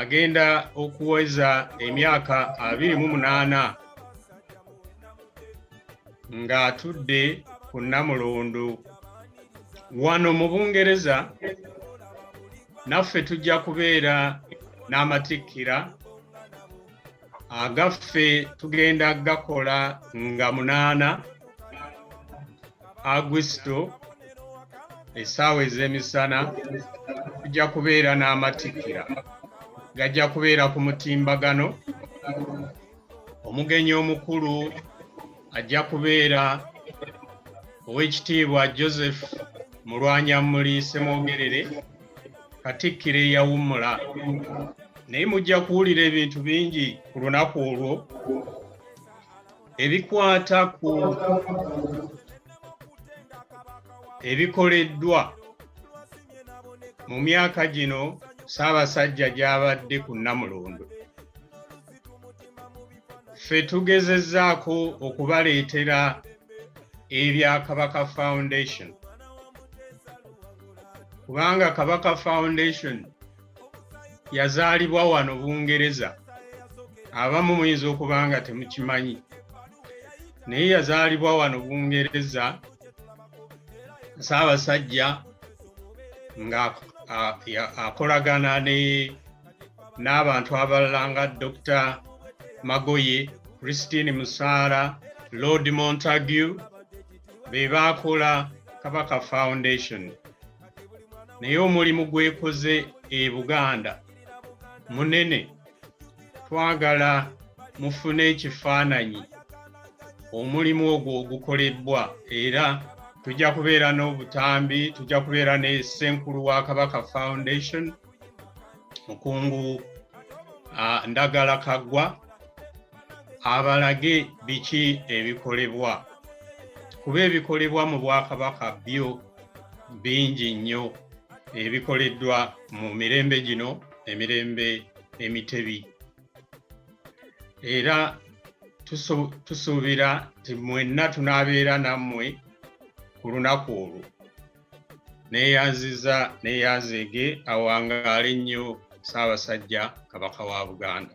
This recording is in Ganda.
agenda okuweza emyaka abiri mu munaana ng'atudde ku Namulondo wano mu Bungereza naffe tujja kubeera n'amatikkira agaffe tugenda gakola nga munaana agusito esaawa ez'emisana tujja kubeera n'amatikkira gajja kubeera ku mutimbagano omugenyi omukulu ajja kubeera ow'ekitiibwa joseph mulwanyammuli semwogerere katikkiro eyawummula naye mujja kuwulira ebintu bingi ku lunaku olwo ebikwata ku ebikoleddwa mu myaka gino ssaabasajja gy'abadde ku nnamulondo ffe tugezezzaako okubaleetera ebya kabaka foundation kubanga kabaka foundation yazaalibwa wano bungereza abamu muyinza okuba nga temukimanyi naye yazaalibwa wano bungereza saabasajja nga akolagana n'abantu abalala nga dr magoye christine musaara lord montague be baakola kabaka foundation naye omulimu gwekoze e buganda munene twagala mufune ekifaananyi omulimu ogwo ogukolebbwa era tujja kubeera n'obutambi tujja kubeera ne ssenkulu wa kabaka foundation mukungu ndagala kaggwa abalage biki ebikolebwa kuba ebikolebwa mu bwakabaka byo bingi nnyo ebikoleddwa mu mirembe gino emirembe emitebi era tusuubira nti mwenna tunaabeera nammwe ku lunaku olwo neyanziza neyanzeege awangaale nnyo ssaabasajja kabaka wa buganda